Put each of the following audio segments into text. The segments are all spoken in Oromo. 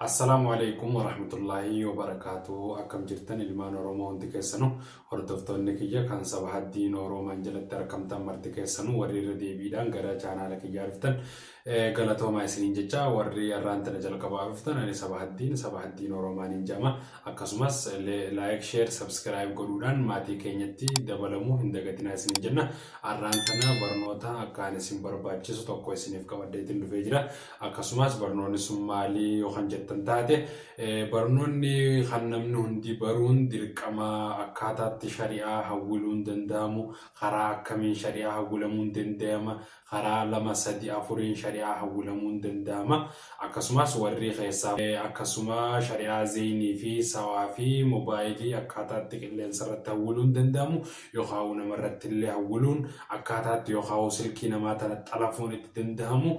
Assalaamu Aleeykum Warahmatullaahi Wabarakaatuhu Akkam jirtan ilmaan Oromoo hundi keessanu hordoftoonni kiyya kan saba haddii nooroomaan jalatti arkamtan marti keessanu warri irra deebiidhaan gara chaanaala kiyyaa dhuftan galatoomaa isiniin jecha warri arraan tana jalqabaa dhuftan ani saba haddiin saba haddii nooroomaan hin jama akkasumas laayik sheer sabskiraayib godhuudhaan maatii keenyatti dabalamuu hin dagatinaa isiniin jenna arraan tana barnoota akkaan isin barbaachisu tokko isiniif qabaddeetiin dhufee jira Akkasumas barnoonni sun maali yoo kan jettan taate barnoonni kan namni hundi baruun dirqama akkaataatti shari'aa hawwiluun danda'amu karaa akkamiin shari'aa hawwilamuun danda'ama karaa lama sadi afuriin shari'aa hawwilamuun danda'ama akkasumas warri keessaa akkasuma shari'aa zeeynii fi sawaa fi mobaayilii akkaataatti qilleensa irratti hawwiluun danda'amu yookaan namarratti illee hawwiluun akkaataatti yookaan silkii namaa tana xalafuun itti danda'amu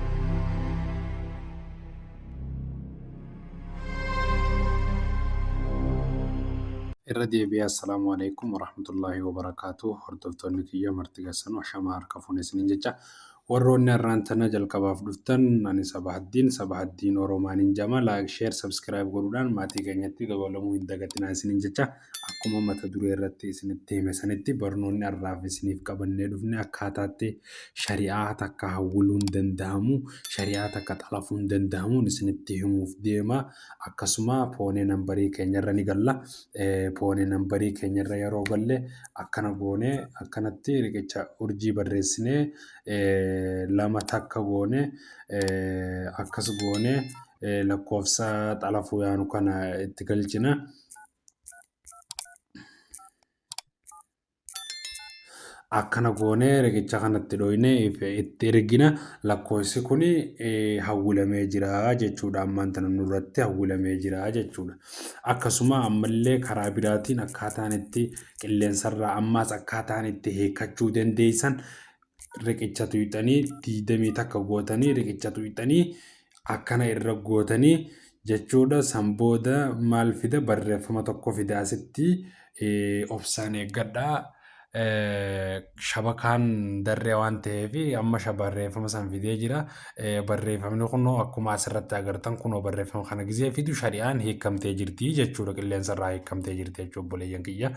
irra deebi'ee assalaamu alaikum warahmatullaahi wabarakaatu hordoftoonni kiyya marti gassan ashamaa harka fuune isiniin jecha warroonni har'aan tana jalqabaaf dhuftan ani sabahaddiin sabahaddiin oromaanin jama laayik sheer sabskiraayib godhuudhaan maatii keenyatti dabalamuu hin dagatinaa isiniin jecha Akkuma mata duree irratti isinitti hime sanitti barnoonni har'aaf isiniif qabannee dhufne akkaataatti shari'aa takka hawwiluun danda'amu, shari'aa takka xalafuun danda'amuun isinitti himuuf deema. Akkasuma poonee nambarii keenyarra ni galla. Poonee nambarii keenyarra yeroo galle akkana goone akkanatti riqicha urjii barreessinee lama takka goone akkas goone lakkoofsa xalafuu yaanu kana itti galchina. akkana goonee riqicha kanatti dhooynee itti ergina lakkoofsi kun hawwilamee jira jechuudha ammaan tana nurratti hawwilamee jira jechuudha akkasuma ammallee karaa biraatiin akkaataan itti qilleensarraa ammaas akkaataan itti hiikkachuu dandeessan riqicha tuyxanii diidamii takka gootanii riqicha tuyxanii akkana irra gootanii jechuudha san booda maal fida barreeffama tokko fida asitti obsaan eeggadha shabakaan darree waan ta'eef amma barreeffama san fidee jira barreeffamni kunoo akkuma asirratti agartan kunoo barreeffama kana gizee fidu shari'aan hiikamtee jirti jechuudha qilleensa irraa hiikamtee jirti jechuudha obboleeyyan kiyya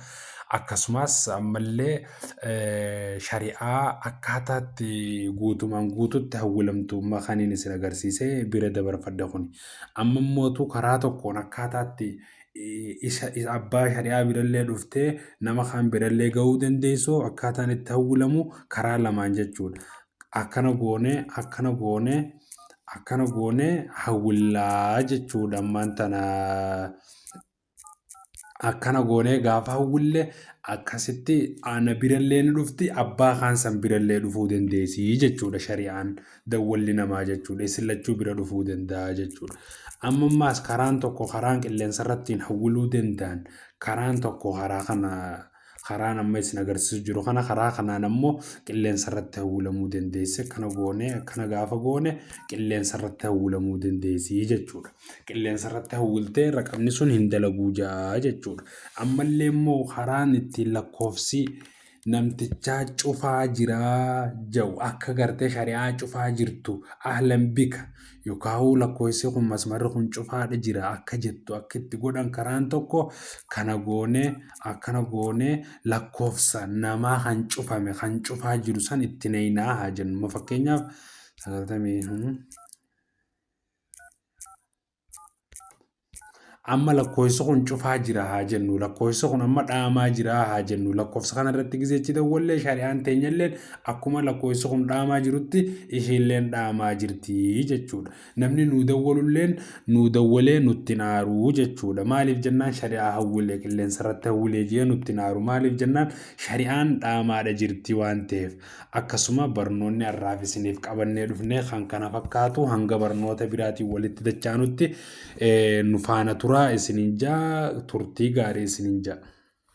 akkasumas ammallee shari'aa akkaataa itti guutumaan guututti hawwilamtummaa kaniin isin agarsiise bira dabarfadha kuni. Amma immootu karaa tokkoon akkaataa itti isa abbaa shari'aa birallee dhuftee nama kaan birallee ga'uu dandeessu akkaataan itti hawwilamu karaa lamaan jechuudha. Akkana goonee akkana goonee akkana goonee hawwillaa jechuudha ammaan tana. akkana goonee gaafa hawwille akkasitti ana birallee ni dhufti abbaa kaan san birallee dhufuu dandeessi jechuudha shari'aan dawwalli namaa jechuudha isin lachuu bira dhufuu danda'a jechuudha. Amma ammaas karaan tokko karaan qilleensa irrattiin hawwiluu danda'an karaan tokko karaa kana karaan amma isin agarsiisu jiru kana karaa kanaan ammoo qilleensa irratti hawwilamuu dandeessi akkana goone akkana gaafa goone qilleensa irratti hawwilamuu dandeessi jechuudha. Qilleensa irratti hawwiltee raqamni sun hin dalaguu ja'a jechuudha. Ammallee immoo karaan ittiin lakkoofsi namtichaa cufaa jiraa ja'u akka gartee shari'aa cufaa jirtu ahlan bika Yokaahu lakkoofsi kun masmarri kun cufaadha jira akka jettu akka itti godhan karaan tokko kana goonee akkana goonee lakkoofsa namaa kan cufame kan cufaa jiru san itti naqinaa haa jennu. Ma fakkeenyaaf sagaltamii Amma lakkoofsi kun cufaa jira haa jennu lakkoofsi kun amma dhaamaa jira haa jennu lakkoofsa kana irratti gizeechi dawwallee shari'aan teenyalleen akkuma lakkoofsi kun dhaamaa jirutti ishiilleen dhaamaa jirti jechuudha. Namni nuu dawwalulleen nuu dawwalee nutti naaruu jechuudha. Maaliif jennaan shari'aa hawwilee qilleensa irratti hawwilee jee nutti naaru maaliif jennaan shari'aan dhaamaadha jirti waan ta'eef. Akkasuma barnoonni har'aaf isiniif qabannee dhufnee kan kana fakkaatu hanga barnoota biraatiin walitti dachaanutti Nu faana turaa isinin jaa turtii gaarii isinin jaa.